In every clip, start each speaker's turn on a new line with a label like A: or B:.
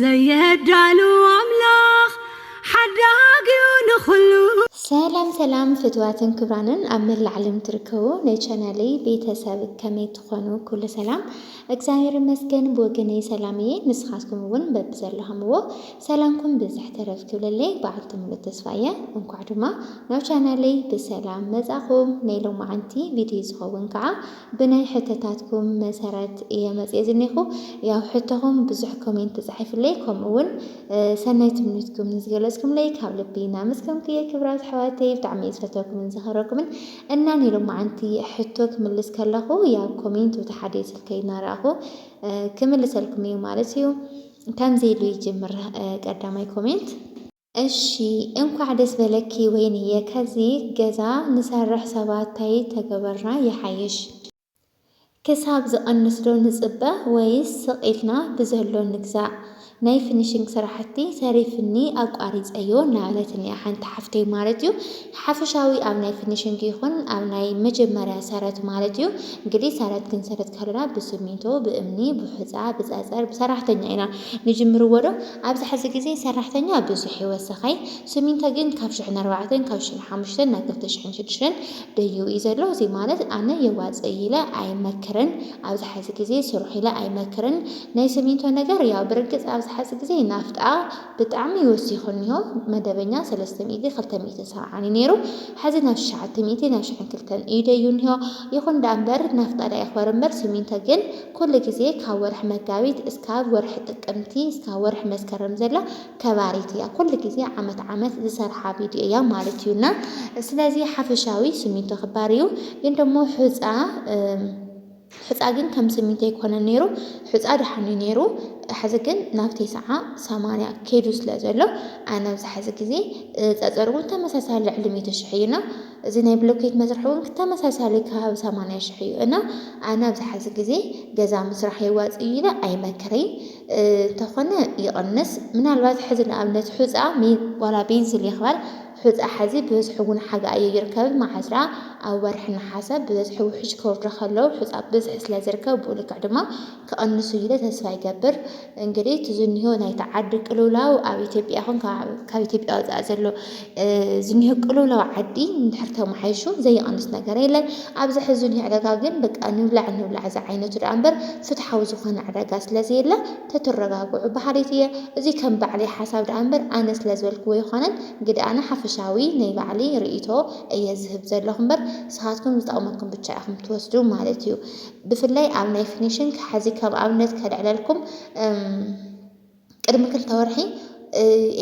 A: ዘየዳሉ ኣምላኽ ሓዳጊዩ ንኹሉ። ሰላም ሰላም
B: ፍትዋትን ክብራንን ኣብ መላእ ዓለም ትርከቡ ናይ ቻናለይ ቤተሰብ ከመይ ትኾኑ ኩሉ ሰላም እግዚኣብሔር ይመስገን ብወገነይ ሰላም እየ ንስኻትኩም እውን በብዘለኹምዎ ሰላምኩም ብዝሕ ተረፍ ክብለለይ በዓልቲ ሙሉእ ተስፋ እየ እንኳዕ ድማ ናብ ቻናለይ ብሰላም መጻኹም ናይ ሎማዓንቲ ቪድዮ ዝኸውን ከዓ ብናይ ሕቶታትኩም መሰረት እየ መጽየ ዝኔኹ ያው ሕቶኹም ብዙሕ ኮሜንት ተጻሒፍለይ ከምኡ ውን ሰናይ ትምኒትኩም ንዝገለጽኩምለይ ካብ ልቢ እናመስገንኩ እየ ክብራት ኣሕዋተይ ብጣዕሚ እየ ዝፈትወኩምን ዝኸረኩምን እና ናይ ሎማዓንቲ ሕቶ ክምልስ ከለኹ ያው ኮሜንት ውቲ ሓደ ስልከይ እናረኣኹ ክምልሰልኩም እዩ ማለት እዩ ከምዚ ኢሉ ይጅምር ቀዳማይ ኮሜንት እሺ እንኳዕ ደስ በለኪ ወይንየ ከዚ ገዛ ንሰርሕ ሰባት ታይ ተገበርና ይሓይሽ። ክሳብ ዝቅንስ ዶ ንጽበ ወይስ ስቅ ኢልና ብዘሎ ንግዛእ ናይ ፍኒሽንግ ስራሕቲ ተሪፍኒ ኣቋሪጸዮ እናበለትኒ እያ ሓንቲ ሓፍተይ ማለት እዩ። ሓፈሻዊ ኣብ ናይ ፍኒሽንግ ይኹን ኣብ ናይ መጀመርያ ሰረት ማለት እዩ። እንግዲህ ሰረት ክንሰርት ከሎና ብስሚንቶ፣ ብእምኒ፣ ብሑጻ፣ ብጸጸር፣ ብሰራሕተኛ ኢና ንጅምርዎ ዶ? ኣብዚ ሕዚ ግዜ ሰራሕተኛ ብዙሕ እዩ ወሰኸይ። ስሚንቶ ግን ካብ ሽሕን ኣርባዕተን፣ ካብ ሽሕን ሓሙሽተን ናብ ክልተ ሽሕን ሽዱሽተን ደይቡ እዩ ዘሎ። እዚ ማለት ኣነ የዋጽእ እዩ ኢለ ኣይመክርን። ኣብዚ ሕዚ ግዜ ስርሑ ኢለ ኣይመክርን። ናይ ስሚንቶ ነገር ያው ብርግጽ ኣብዚ ሕዚ ግዜ ናፍጣ፣ ብጣዕሚ ወሲኹ እኒሆ መደበኛ ሰለስተ ሚእቲ ክልተ ሚእትን ሰብዓን እዩ ነይሩ ሐዚ ናብ ሽሸዓተ ሚእቲ ናብ ሽሕን ክልተን እዩ ደዩ እኒሆ ይኹን ዳኣ እምበር ናፍጣ ዳኣ ይኽበር እምበር ስሚንቶ ግን ኩሉ ግዜ ካብ ወርሒ መጋቢት እስካብ ወርሒ ጥቅምቲ እስካብ ወርሒ መስከረም ዘላ ከባሪት እያ ኩሉ ግዜ ዓመት ዓመት ዝሰርሓ ቪድዮ እያ ማለት እዩ እና ስለዚ ሓፈሻዊ ስሚንቶ ክባር እዩ ግን ደሞ ሑፃ ሑጻ ግን ከም ስሚንቶ ኣይኮነን ነይሩ ሑጻ ደሓን እዩ ነይሩ ሐዚ ግን ናብ ቴስዓ ሰማንያ ከይዱ ስለ ዘሎ ኣነ ኣብዚ ሐዚ ግዜ ጸጸር እውን ተመሳሳሊ ልዕሊ ሚእቲ ሽሕ እዩ እና እዚ ናይ ብሎኬት መስርሒ እውን ተመሳሳሊ ከባቢ ሰማንያ ሽሕ እዩ እና ኣነ ኣብዚ ሐዚ ግዜ ገዛ ምስራሕ የዋጽእ እዩ ኢለ ኣይመክረይን እንተኾነ ይቕንስ ምናልባት ሐዚ ንኣብነት ሑጻ ዋላ ቤንስል ይኽበር ሑጻ ሐዚ ብዝሒ እውን ሓጋ እዩ ይርከብ መዓዝራ ኣብ ወርሒ ነሓሰ ብዝሒ ውሕጅ ክወርዶ ከሎ ሑጻ ብዝሒ ስለዝርከብ ብኡ ልክዕ ድማ ክቅንስ እዩ ኢለ ተስፋ ይገብር እንግዲህ እቲ ዝኒሆ ናይቲ ዓዲ ቅልውላው ኣብ ኢትዮጵያ ይኹን ካብ ኢትዮጵያ ወጻኢ ዘሎ ዝኒሆ ቅልውላው ዓዲ እንድሕር ተመሓይሹ ዘይቅንስ ነገር የለን ኣብዚ ሕዚ ዝኒሆ ዕዳጋ ግን በቃ ንብላዕ ንብላዕ ዝዓይነቱ ደኣ እምበር ፍትሓዊ ዝኾነ ዕዳጋ ስለዘየለ ተትረጋግዑ በሃሊት እየ። እዚ ከም ባዕለይ ሓሳብ ደኣ እምበር ኣነ ስለ ዝበልክዎ ኣይኮነን ግደ ኣነ ሓፈሻዊ ናይ ባዕለይ ርእይቶ እየ ዝህብ ዘለኹ እምበር ንስኻትኩም ዝጠቕመኩም ብቻ ኢኹም ትወስዱ ማለት እዩ ብፍላይ ኣብ ናይ ፊኒሽንግ ሐዚ ከም ኣብነት ከልዕለልኩም እም ቅድሚ ክልተ ወርሒ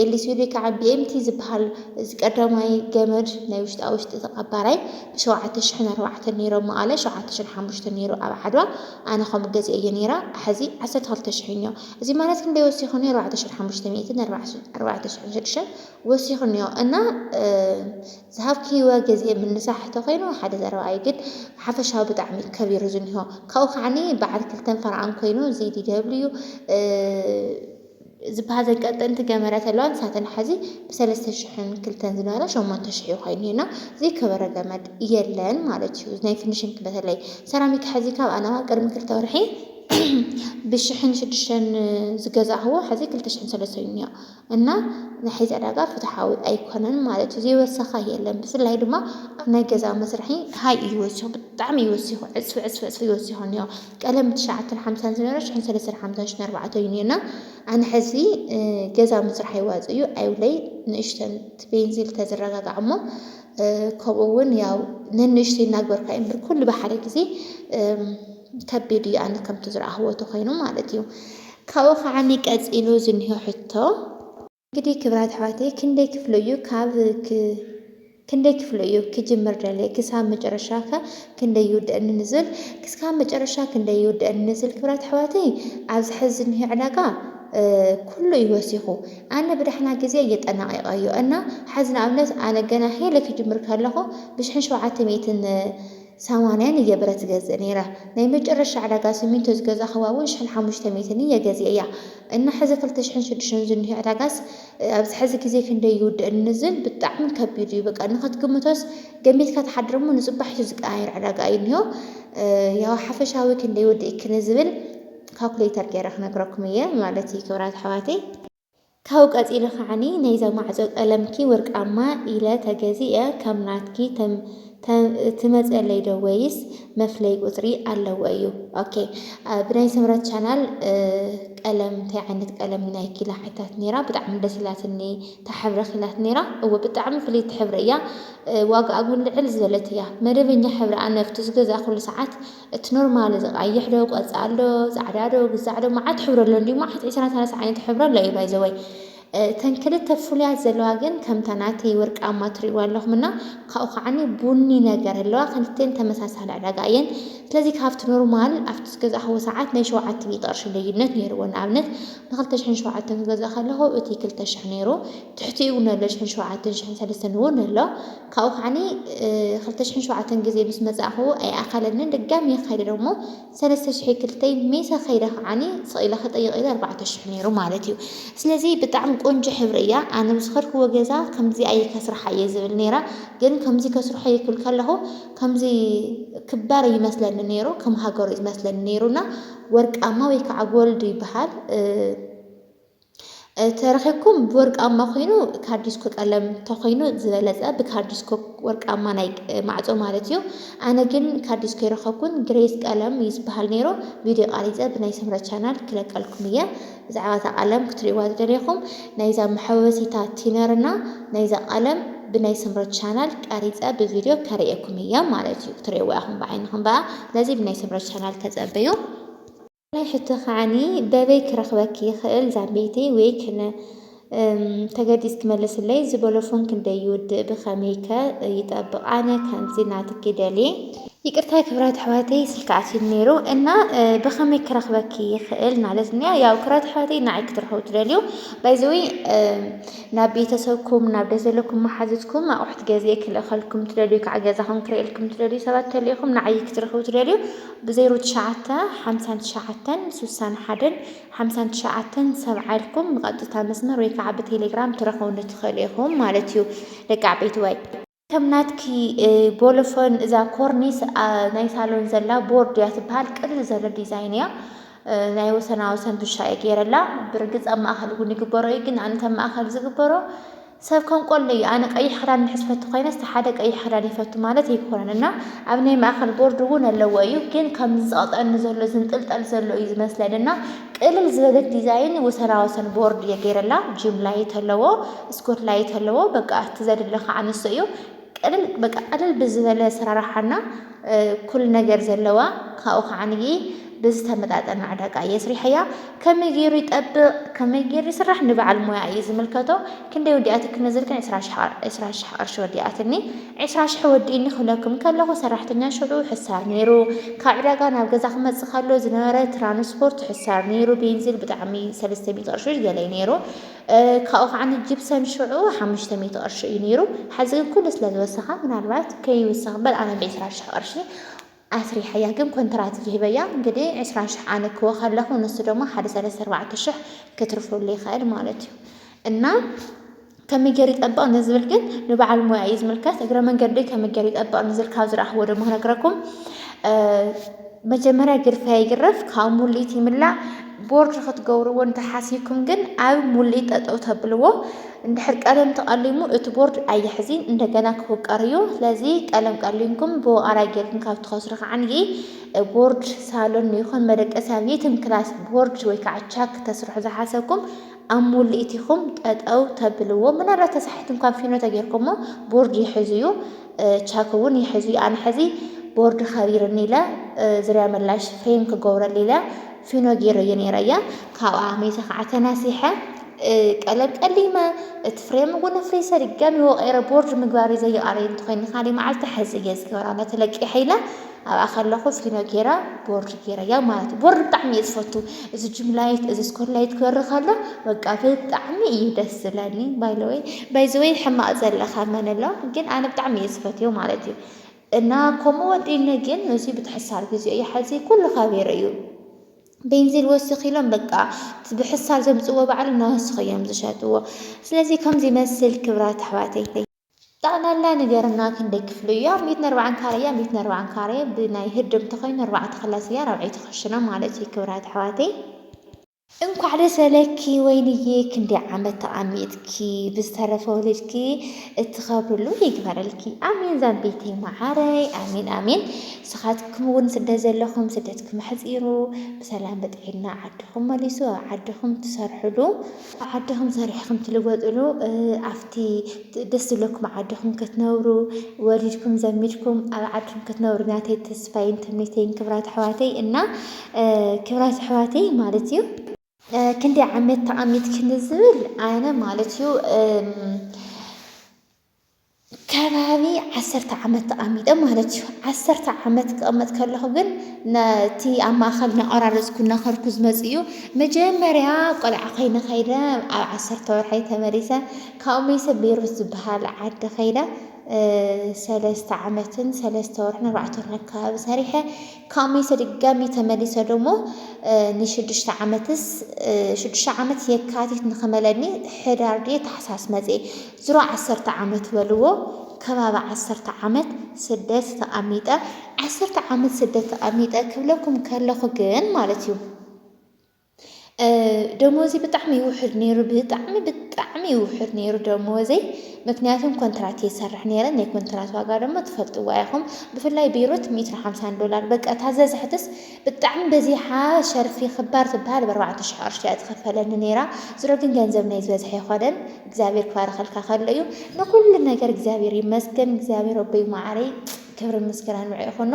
B: ኤሌትሪክ ከዓ ቢኤምቲ ዝበሃል እዚ ቀዳማይ ገመድ ናይ ውሽጣ ውሽጢ እቲ ቀባራይ ብሸውዓተ ሽሕን ኣርባዕተን ነይሩ ኣብ መቐለ ሸውዓተ ሽሕን ሓሙሽተን ነይሩ ኣብ ዓድዋ ኣነ ከምኡ ገዚኤዮ ነይረ ሐዚ ዓሰርተ ክልተ ሽሕ እኒኦ እዚ ማለት ክንደይ ወሲኹ እኒኦ ኣርባዕተ ሽሕን ሓሙሽተ ሚእትን ኣርባዕተ ሽሕን ሽዱሽተን ወሲኹ እኒኦ እና ዝሃብክይወ ገዚኤ ምንሳሕ እንተኾይኑ ሓደ ዘረባ እዩ ግን ሓፈሻዊ ብጣዕሚ እዩ ከቢሩ ዝኒሆ ካብኡ ከዓኒ በዓል ክልተን ፈረቓን ኮይኑ እዚ ዲደብሊዩ ዝብሃል ዘንቀጥ እንት ገመረት ኣለዋ ንሳተን ሐዚ ብ ሰለስተ ሽሕን ክልተን ዝነበራ ሸሞንተ ሽሕ እዩ ኮይኑ እና ዘይከበረ ገመድ የለን ማለት እዩ ናይ ፍንሽንግ በተለይ ሰራሚክ ሐዚ ካብ ኣነዋ ቅድሚ ክልተ ወርሒ ብ ሽሕን ሽዱሽተን ዝገዛእክዎ ሐዚ ክልተ ሽሕን ሰለስተ እዩ እኒኦ እና ናይ ሐዚ ዕዳጋ ፍትሓዊ ኣይኮነን ማለት እዩ ዘይወሰኸ የለን ብፍላይ ድማ ኣብ ናይ ገዛ መስርሒ ሃይ እዩ ወሲኹ ብጣዕሚ እዩ ወሲኹ ዕፅፊ ዕፅፊ ዕፅፊ እዩ ወሲኹ እኒኦ ቀደም ትሽዓተን ሓምሳን ዝነበረ ሽሕን ሰለስተን ሓምሳን ሽሕን ኣርባዕተን እዩ ነይርና ኣነ ሕዚ ገዛ ምስራሕ ይዋጽእ እዩ ኣይብለይ ንእሽተን ትቤንዚል ተዝረጋጋዕ እሞ ከምኡ እውን ያው ነንእሽተይ እናግበርካ እዩ እምበር ኩሉ ብሓደ ግዜ ከቢድ እዩ ኣነ ከምቲ ዝረኣኽዎ ተኮይኑ ማለት እዩ ካብኡ ከዓኒ ቀጺሉ ዝኒሆ ሕቶ እንግዲህ ክብራት ኣሕዋተይ ክንደይ ክፍሎ እዩ ካብ ክንደይ ክፍሎ እዩ ክጅምር ደለየ ክሳብ መጨረሻ ከ ክንደይ ይውድእ ንንዝል ክስካብ መጨረሻ ክንደይ ይውድእ ንንዝል ክብራት ኣሕዋተይ ኣብዚ ሕዚ ዝኒሀ ዕዳጋ ኩሉ እዩ ወሲኹ ኣነ ብዳሕና ግዜ እየጠናቂቀዮ እና ሓዚ ንኣብነት ኣነ ገና ሄለ ክጅምር ከለኹ ብሽሕን ሸውዓተ ሚእትን ሰማንያን እየ ብረት ዝገዝእ ነይረ። ናይ መጨረሻ ዕዳጋ ስሚንቶ ዝገዛእክዋ እውን ሽሕን ሓሙሽተ ሚእትን እየ ገዚኤያ። እና ሕዚ ክልተ ሽሕን ሽዱሽተን ዝኒሆ ዕዳጋስ ኣብዚ ሕዚ ግዜ ክንደይ ይውድእ እንዝብል ብጣዕሚ ከቢድ እዩ። በቃ ንኽትግምቶስ ገሚትካ ትሓድር እሞ ንፅባሒቱ ዝቀያየር ዕዳጋ እዩ ዝኒሆ። ያው ሓፈሻዊ ክንደይ ይወድእኪ ንዝብል ካልኩሌተር ገይረ ክነግረኩም እየ ማለት እዩ ክብራት ኣሕዋተይ። ካብኡ ቀጺለ ከዓኒ ናይዛ ማዕጾ ቀለምኪ ወርቃማ ኢለ ተገዚኤ ከም ናትኪ ትመጸለይ ዶ ወይስ መፍለይ ቁጽሪ ኣለዎ እዩ ok ብናይ ስምረት ቻናል ቀለም እንታይ ዓይነት ቀለም እዩ ናይኪ ኢላ ሓቲታት ኔራ ብጣዕሚ ደስ ኢላትኒ ታሕብረኪ ኢላት ኔራ እወ ብጣዕሚ ፍልይቲ ሕብሪ እያ ዋጋኣ ውን ልዕል ዝበለት እያ መደበኛ ሕብሪ ኣነ ኣብቲ ዝገዛእኩሉ ሰዓት እቲ ኖርማል እዚ ቃይሕ ዶ ቆጻል ዶ ጻዕዳ ዶ ግዛዕ ዶ መዓት ሕብሪ ኣሎ እንዲዩ መዓት ዕስራ ሰላሳ ዓይነት ሕብሪ ኣሎ እዩ ባይዘወይ እተን ክልተ ፍሉያት ዘለዋ ግን ከምታ ናተይ ወርቃማ ትርእይዋ ኣለኹም እና ካብኡ ከዓኒ ቡኒ ነገር ኣለዋ ክልቴን ተመሳሳሊ ዕዳጋ እየን ስለዚ ካብቲ ኖርማል ኣብቲ ዝገዛእኽዎ ሰዓት ናይ ሸውዓተ ሚእቲ ቅርሺ ልዩነት ነይርዎ ንኣብነት ንክልተ ሽሕን ሸውዓተን ክገዛእ ከለኹ እቲ ክልተ ሽሕ ነይሩ ትሕቲኡ እውን ኣሎ ሽሕን ሸውዓተን ሽሕን ሰለስተን እውን ኣሎ ካብኡ ከዓኒ ክልተ ሽሕን ሸውዓተን ግዜ ምስ መጻእኩ ኣይኣኸለንን ድጋሜ ከይደ ደሞ ሰለስተ ሽሕ ዩ ክልተይ ሜሰ ከይደ ከዓኒ ስቕ ኢለ ክጥይቕ ኢለ ኣርባዕተ ሽሕ ኔሩ ማለት ዩ ስለዚ ብጣዕሚ ቆንጆ ሕብሪ እያ ኣነ ብዝኸድክዎ ገዛ ከምዚ ኣየ ከስርሓ እየ ዝብል ኔረ ግን ከምዚ ከስርሖ እየ ክብል ከለኹ ከምዚ ክባር እዩ መስለኒ ኔሩ ከም ሃገሩ እዩ ዝመስለኒ ኔሩ እና ወርቃማ ወይ ከዓ ጎልድ ይበሃል። ተረኺብኩም ብወርቃማ ኮይኑ ካርዲስኮ ቀለም ተኮይኑ ዝበለጸ ብካርዲስኮ ወርቃማ ናይ ማዕጾ ማለት እዩ ኣነ ግን ካርዲስኮ ይረኸብኩን ግሬስ ቀለም እዩ ዝበሃል ነይሩ ቪድዮ ቃሪጸ ብናይ ሰምረ ቻናል ክለቀልኩም እየ ብዛዕባ እታ ቀለም ክትርእዋ ዝደለኹም ናይዛ መሐወሲታ ቲነርና ናይዛ ቀለም ብናይ ሰምረ ቻናል ቀሪጸ ብቪድዮ ከርእየኩም እያ ማለት እዩ ክትርእዋ ኢኹም ብዓይንኹም በኣ ስለዚ ብናይ ሰምረ ቻናል ተጸበዩ ካልኣይ ሕቶ ከዓኒ በበይ ክረኽበኪ ይኽእል ዛምበይተይ ወይ ክነ ተገዲስ ክመልስለይ ዝበሎ ፎን ክንደይ ይውድእ ብከመይ ከ ይጠብቅ ኣነ ከምዚ ናትኪ ደልየ። ይቅርታ ክብራት ኣሕዋተይ ስልኪ ኣትዩኒ ነይሩ እና ብከመይ ክረክበኪ ይክእል ማለት ኒያ ያው ክብራት ኣሕዋተይ ንዓይ ክትረክቡ ትደልዩ ባይዘወይ ናብ ቤተሰብኩም ናብ ደ ዘለኩም መሓዙትኩም ኣቁሑት ገዜ ክልእከልኩም ትደልዩ ከዓ ገዛኩም ክርእየልኩም ትደልዩ ሰባት ተልኢኩም ንዓይ ክትረክቡ ትደልዩ ብ ዜሮ ትሽዓተ ሓምሳን ትሽዓተን ሱሳን ሓደን ሓምሳን ትሽዓተን ሰብዓ ኢልኩም ብቀጥታ መስመር ወይ ከዓ ብቴሌግራም ትረኽቡኒ ትኽእሉ ኢኹም ማለት እዩ ደቂ ዓበይትዋይ ከም ናትኪ ቦሎፎን እዛ ኮርኒስ ናይ ሳሎን ዘላ ቦርድ እያ ትበሃል ቅልል ዘለ ዲዛይን እያ ናይ ወሰና ወሰን ብሻ እየ ገይረላ ብርግፅ ኣብ ማእኸል እውን ይግበሮ እዩ ግን ኣንተ ማእኸል ዝግበሮ ሰብ ከም ቆሎ እዩ ኣነ ቀይሕ ክዳን እንድሕር ዝፈቱ ኮይነስ እቲ ሓደ ቀይሕ ክዳን ይፈቱ ማለት ኣይኮነን እና ኣብ ናይ ማእኸል ቦርድ እውን ኣለዎ እዩ ግን ከምዚ ዝቐጥዐኒ ዘሎ ዝንጥልጠል ዘሎ እዩ ዝመስለኒ እና ቅልል ዝበለት ዲዛይን ወሰና ወሰን ቦርድ እየ ገይረላ ጂም ላይት ኣለዎ ስኮት ላይት ኣለዎ በቃ እቲ ዘድለኻ ኣንሶ እዩ ቀልል በቃ ቀልል ብዝበለ ኣሰራርሓ እና ኩሉ ነገር ዘለዋ ካብኡ ከዓንይ ብዝተመጣጠነ ዕዳጋ እየ ስሪሐያ ከመይ ገይሩ ይጠብቕ ከመይ ገይሩ ይስራሕ ንበዓል ሞያ እዩ ዝምልከቶ ክንደይ ወዲኣት ክነዘልክን ዕስራ ሽሕ ቅርሺ ወዲኣትኒ ዕስራ ሽሕ ወዲእኒ ክብለኩም ከለኹ ሰራሕተኛ ሽዑ ሕሳር ነይሩ ካብ ዕዳጋ ናብ ገዛ ክመፅእ ከሎ ዝነበረ ትራንስፖርት ሕሳር ነይሩ ቤንዚል ብጣዕሚ ሰለስተ ሚእቲ ቅርሺ ገለይ ነይሩ ካብኡ ከዓኒ ጅብሰም ሽዑ ሓሙሽተ ሚእቲ ቅርሺ እዩ ነይሩ ሐዚ ግን ኩሉ ስለ ዝወሰኻ ምናልባት ከይውሰኽ በል ኣነ ብዕስራ ሽሕ ቅርሺ ኣስሪሐያ ግን ኮንትራት ይህበያ እንግዲህ ዕስራ ሽሕ ኣነ ክወ ከለኹ ንሱ ደሞ ሓደ ሰለስተ ኣርባዕተ ሽሕ ክትርፈሉ ይኽእል ማለት እዩ እና ከመይ ገይሩ ይጠብቕ ንዝብል ግን ንበዓል ሞያ እዩ ዝምልከት እግረ መንገዲ ከመይ ገይሩ ይጠብቕ ንዝብል ካብ ዝረኣኽዎ ደሞ ክነግረኩም መጀመርያ ግርፋ ይግረፍ ካብ ሙሊት ይምላእ ቦርድ ክትገብርዎ እንተ ሓሲብኩም ግን ኣብ ሙሊእ ጠጠው ተብልዎ እንድሕር ቀለም ተቀሊሙ እቲ ቦርድ ኣይሕዚን እንደገና ክውቀር እዩ ስለዚ ቀለም ቀሊምኩም ብወቃራይ ጌርኩም ካብ ትኸስሩ ከዓንጊ ቦርድ ሳሎን ይኹን መደቀሲ ኣብ የትም ክላስ ቦርድ ወይ ከዓ ቻክ ተስርሑ ዝሓሰብኩም ኣብ ሙሊኢት ኢኩም ጠጠው ተብልዎ ምናልባት ተሳሒት እንኳን ፊኖ ተጌርኩሞ ቦርድ ይሕዝ እዩ ቻክ እውን ይሕዝ እዩ ኣነ ሕዚ ቦርድ ከቢርኒ ኢለ ዝርያ መላሽ ፍሬም ክገብረሉ ኢለ ፊኖ ጌረ እየ ነይረ እያ ካብኣ ሜተ ከዓ ተናሲሐ ቀለም ቀሊመ እቲ ፍሬም እውን ኣፍሪሰ ድጋሚ ወቀይረ ቦርድ ምግባር እዩ ዘይቀረይ እንተኮይኒ ካሊእ መዓልቲ ሕዚ እየ ዝገብራ ነቲ ለቂሐ ኢለ ኣብኣ ከለኹ ፊኖ ጌራ ቦርድ ጌረያ ማለት እዩ። ቦርድ ብጣዕሚ እየ ዝፈቱ እዚ ጅምላይት እዚ ስኮርላይት ክበሪ ከሎ በቃ ብጣዕሚ እዩ ደስ ዝብለኒ። ባይለወይ ባይዘወይ ሕማቅ ዘለካ መን ኣሎ ግን ኣነ ብጣዕሚ እየ ዝፈትዮ ማለት እዩ እና ከምኡ ወዲነ ግን እዚ ብትሕሳር ግዜ እዩ ሓዚ ኩሉ ከቢሩ እዩ ቤንዚል ወስኽ ኢሎም በቃ ብሕሳር ዘምፅዎ ባዕሉ እናወስኹ እዮም ዝሸጥዎ። ስለዚ ከምዚ መስል ክብራት ኣሕዋተይ ጠቕላላ ንገርና ክንደይ ክፍሊ እዩ ኣብ ሚእትን ኣርባዓን ካሬ ኣብ ሚእትን ኣርባዓን ካሬ ብናይ ህድም ተኾይኑ ኣርባዕተ ክላስ እያ ራብዐይቲ ክሽነ ማለት እዩ ክብራት ኣሕዋተይ። እንኳዕ ደስ ኣለኪ ወይንዬ ክንደይ ዓመት ተቃሚጥኪ ብዝተረፈ ወሊድኪ እትኸብርሉ ይግበረልኪ ኣሜን ዛምቤተይ መዓረይ ኣሜን ኣሜን ስኻትኩም እውን ስደት ዘለኹም ስደትኩም ኣሕፂሩ ብሰላም ብጥዒና ዓድኹም መሊሱ ኣብ ዓድኹም ትሰርሕሉ ዓድኹም ሰሪሕኹም ትልወጥሉ ኣብቲ ደስ ዝብለኩም ዓድኹም ክትነብሩ ወሊድኩም ዘሚድኩም ኣብ ዓድኹም ክትነብሩ ናተይ ተስፋይን ትምኒተይን ክብራት ኣሕዋተይ እና ክብራት ኣሕዋተይ ማለት እዩ ክንዲ ዓመት ተቐሚጥክኒ ዝብል ኣነ ማለት እዩ ከባቢ ዓሰርተ ዓመት ተቐሚጠ ማለት እዩ። ዓሰርተ ዓመት ክቕመጥ ከለኹ ግን ነቲ ኣብ ማእኸል እናቖራረፅኩ እናኸድኩ ዝመፅእ እዩ። መጀመርያ ቆልዓ ኮይነ ከይደ ኣብ ዓሰርተ ወርሐይ ተመሊሰ ካብኡ መይሰ ቤሩት ዝበሃል ዓዲ ከይደ ሰለስተ ዓመትን ሰለስተ ወርሕን ኣርባዕተ ወርሕን ኣካባቢ ሰሪሐ ካብ መይሰ ድጋሚ ተመሊሰ ደሞ ንሽዱሽተ ዓመትስ ሽዱሽተ ዓመት የካቲት ንክመለኒ ሕዳር ድየ ታሕሳስ መፅየ ዝሮ ዓሰርተ ዓመት በልዎ ከባቢ ዓሰርተ ዓመት ስደት ተቀሚጠ ዓሰርተ ዓመት ስደት ተቀሚጠ ክብለኩም ከለኩ ግን ማለት እዩ ደሞዚ ብጣዕሚ ይውሕድ ነይሩ ብጣዕሚ ብጣዕሚ ይውሕድ ነይሩ ደሞዘይ ምክንያቱም ኮንትራት የሰርሕ ነይረ ናይ ኮንትራት ዋጋ ደሞ ትፈልጥዋ ኢኹም ብፍላይ ቤሮት ሚእትን ሓምሳን ዶላር በቃ ታዘዝሕትስ ብጣዕሚ በዚሓ ሸርፊ ክባር ትብሃል ብ ኣርባዕተ ሽሕ ቅርሺ እያ ትክፈለኒ ነይራ ዝሮ ግን ገንዘብ ናይ ዝበዝሐ ኣይኮነን እግዚኣብሔር ክባርኸልካ ከሎ እዩ ንኩሉ ነገር እግዚኣብሔር ይመስገን እግዚኣብሔር ኣቦይ ማዓረይ ክብርን ምስጋናን ንዑ ይኹኖ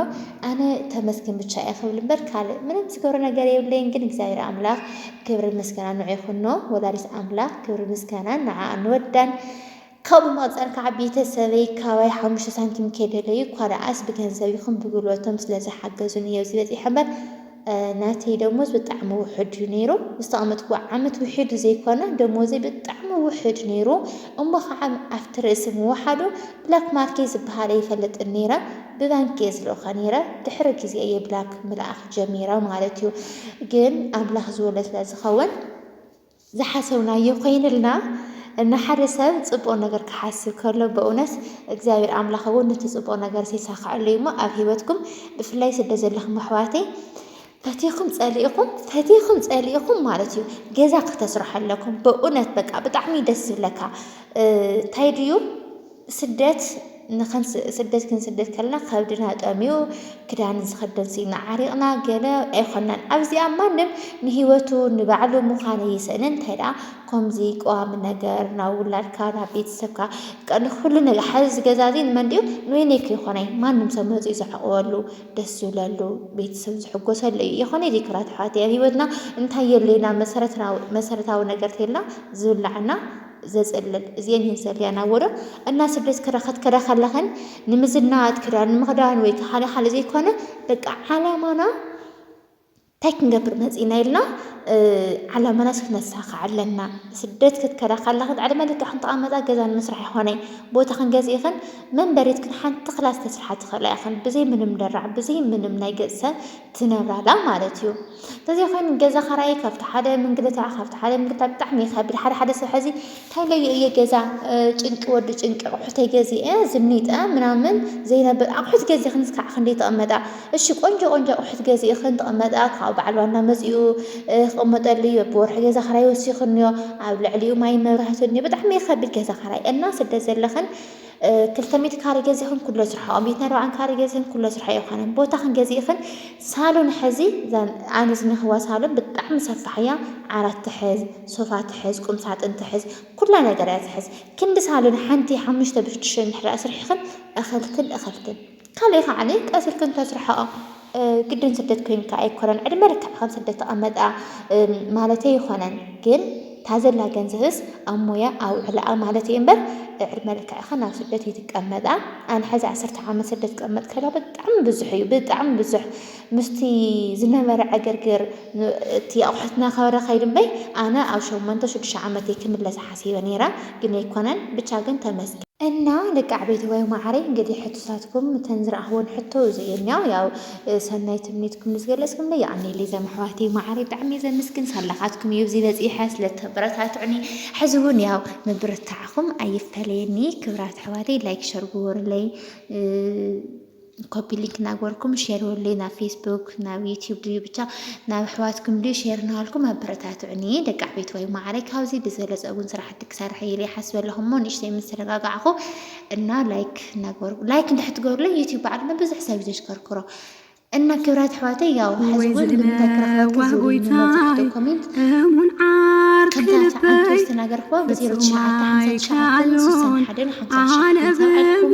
B: ኣነ ተመስገን ብቻ እየ ክብል እምበር ካልእ ምንም ዝገብሮ ነገር የብለይን ግን እግዚኣብሔር ኣምላኽ ክብርን ምስጋናን ንዑ ይኹኖ ወላዲት ኣምላኽ ክብርን ምስጋናን ንዓኣ ንወዳን ካብኡ መቐጸር ከኣ ቤተሰበይ ካባይ ሓሙሽተ ሳንቲም ከይደለዩ እኳ ደኣስ ብገንዘብ ይኹን ብጉልበቶም ስለ ዝሓገዙኒ እየ ኣብዚ በጺሐ እምበር ናተይ ደሞዝ ብጣዕሚ ውሑድ እዩ ነይሩ። ዝተቐመጥኩዎ ዓመት ውሒዱ ዘይኮነ ደሞዘይ ብጣዕሚ ውሑድ ነይሩ እሞ ከኣ ኣብቲ ርእሲ ምውሓዱ ብላክ ማርኬት ዝበሃል ኣይፈልጥን ነይረ። ብባንኪ እየ ዝልእኾ ነይረ። ድሕሪ ግዜ እየ ብላክ ምልኣኽ ጀሚረ ማለት እዩ። ግን ኣምላኽ ዝወሎ ስለ ዝኸውን ዝሓሰብናዮ ኮይንልና ንሓደ ሰብ ጽቡቅ ነገር ክሓስብ ከሎ በእውነት እግዚኣብሔር ኣምላኽ እውን ነቲ ጽቡቅ ነገርስ የሳክዐሉ እዩ እሞ ኣብ ህይወትኩም ብፍላይ ስደት ዘለኹም ኣሕዋተይ ፈቲኹም ጸሊእኹም ፈቲኹም ጸሊእኹም ማለት እዩ ገዛ ክተስርሑ ኣለኩም በእውነት በቃ ብጣዕሚ ደስ ዝብለካ እንታይ ድዩ ስደት ስደት ክንስደድ ከለና ከብድና ጠምዩ ክዳን ዝኽደን ስኢና ዓሪቕና ገለ ኣይኮናን። ኣብዚኣ ማንም ንህይወቱ ንባዕሉ ምዃን እይሰእንን እንታይ ደኣ ከምዚ ቀዋሚ ነገር ናብ ውላድካ ናብ ቤተሰብካ ንኩሉ ነገር ሓዚ ዝገዛ እዚ ንመን ድዩ ንበይነይ ከይኮነይ ማንም ሰብ መፅኡ ዝዕቕበሉ ደስ ዝብለሉ ቤተሰብ ዝሕጎሰሉ እዩ ይኾነ እዚ ክብራት ኣሕዋት ኣብ ህይወትና እንታይ የድልየና መሰረታዊ ነገር ተልና ዝብላዕና ዘጽልል እዚኤን እየን ዘልያን ኣብ ወዶ እና ስደት ክዳ ክትከዳ ከለኽን ንምዝናጥ ክዳን ንምኽዳን ወይ ካሓደ ሓደ ዘይኮነ በቃ ዓላማና እንታይ ክንገብር መጺእና ኢልና ዓላማናስ ክነሳኽዕ ኣለና ስደት ክትከዳ ከለኽን ዕድመ ልክዕ ክንተቐመጣ ገዛ ንምስራሕ ይኾነ ቦታ ክንገዝእ ይኽን መንበሪት ክን ሓንቲ ክላስ ተስርሓ ትኽእላ ይኽን ብዘይ ምንም ደራዕ ብዘይ ምንም ናይ ገጽሰ ትነብራላ ማለት እዩ ተዘይ ኮይኑ ገዛ ኻራይ ካብቲ ሓደ ምንግልታ ካብቲ ሓደ ምንግልታ ብጣዕሚ ይኸብድ ሓደ ሓደ ሰብ ሐዚ እንታይ ለዩ እየ ገዛ ጭንቂ ወዲ ጭንቂ ኣቑሑተይ ገዚአ ዝኒጠ ምናምን ዘይነብር ኣቑሑት ገዚኽንስ ከዓ ክንደይ ተቐመጣ እሺ ቆንጆ ቆንጆ ኣቑሑት ገዚእኽን ተቐመጣ ካብኡ በዓል ዋና መፂኡ ክቕመጠሉ እዩ ብወርሒ ገዛ ኻራይ ወሲኽንዮ ኣብ ልዕሊኡ ማይ መብራህቲ እንዮ ብጣዕሚ ይኸብድ ገዛ ኻራይ እና ስደት ዘለኽን ክልተ ሚእቲ ካሬ ገዚኽን ኩሎ ስርሖ ኣብ ሚእትን ኣርባዓን ካሬ ገዚኽን ኩሎ ስርሖ ኣይኾነን ቦታኽን ገዚእኽን ሳሎን ሕዚ ኣነ ዝኒኽዋ ሳሎን ብጣዕሚ ሰፋሕ እያ ዓራት ትሕዝ ሶፋ ትሕዝ ቁም ሳጥን ትሕዝ ኩላ ነገር እያ ትሕዝ ክንዲ ሳሎን ሓንቲ ሓሙሽተ ብሽዱሽተ እንድሕር ስርሒኽን እኽልክን እኽልክን ካልእ ከዓኒ ቀስ ኢልክን ተስርሕኦ ግድን ስደት ኮይንካ ኣይኮነን ዕድመ ልክዕካ ኣብ ስደት ተቀመጣ ማለተይ ኣይኾነን ግን እታ ዘላ ገንዘብስ ኣብ ሞያ ኣውዕላኣ ማለተይ እምበር ዕድመ ልክዕካ ናብ ስደት ኣይትቀመጣ ኣነ ሕዚ ዓሰርተ ዓመት ስደት ክቅመጥ ከላ ብጣዕሚ ብዙሕ እዩ ብጣዕሚ ብዙሕ ምስቲ ዝነበረ ዕግርግር እቲ ኣቑሑትና ከበረ ከይዱ እምበይ ኣነ ኣብ ሸሞንተ ሽዱሽተ ዓመተይ ክምለስ ሓሲበ ነይረ ግን ኣይኮነን ብቻ ግን ተመስገን። እና ደቂ ኣዕቤትዋይ ማዓረይ እንግዲህ ሕቶታትኩም እተን ዝረኣክወን ሕቶ እዚ እየን ያው ያው ሰናይ ትምኒትኩም ንዝገለጽኩምለይ የቀኔለይ ዘም ኣሕዋተይ ማዓረይ ብጣዕሚ እየ ዘምስግን ሳላካትኩም እዩ እዚ በጺሐ ስለተበረታትዑኒ ሕዚ እውን ያው ምብርታዕኩም ኣይፈለየኒ ክብራት ኣሕዋተይ ላይክ ሸር ግበሩለይ ኮፒ ሊንክ ናግበርኩም ሼር በሉለይ ናብ ፌስቡክ ናብ ዩቲዩብ ድዩ ብቻ ናብ ኣሕዋትኩም ድዩ ሼር ናበልኩም ኣበረታትዑኒ ደቂ ዓበይትዋይ ማዕረይ ካብዚ ብዝበለፀ እውን ስራሕቲ ክሰርሕ እየ ኢለ ይሓስብ ኣለኹ እሞ ንእሽተይ ምስ ተረጋጋዕኹ እና ላይክ ናግበርኩ ላይክ እንድሕር ትገብሩለይ ዩቲዩብ በዓል ንብዙሕ ሰብ እዩ ዘሽከርክሮ እና ክብራት ኣሕዋተይ ያው ሕዚ እውን ንምንታይ ክረኽበኪ ዝብሉ መብዛሕትኡ ኮሜንት ከምታ
A: ተዓንቶ ዝተናገርክዋ
B: ብዜሮ ትሽዓተ ሓምሳ ትሽዓተን ስሳን ሓደን ሓምሳ ትሽዓተን ሰብዓልኩም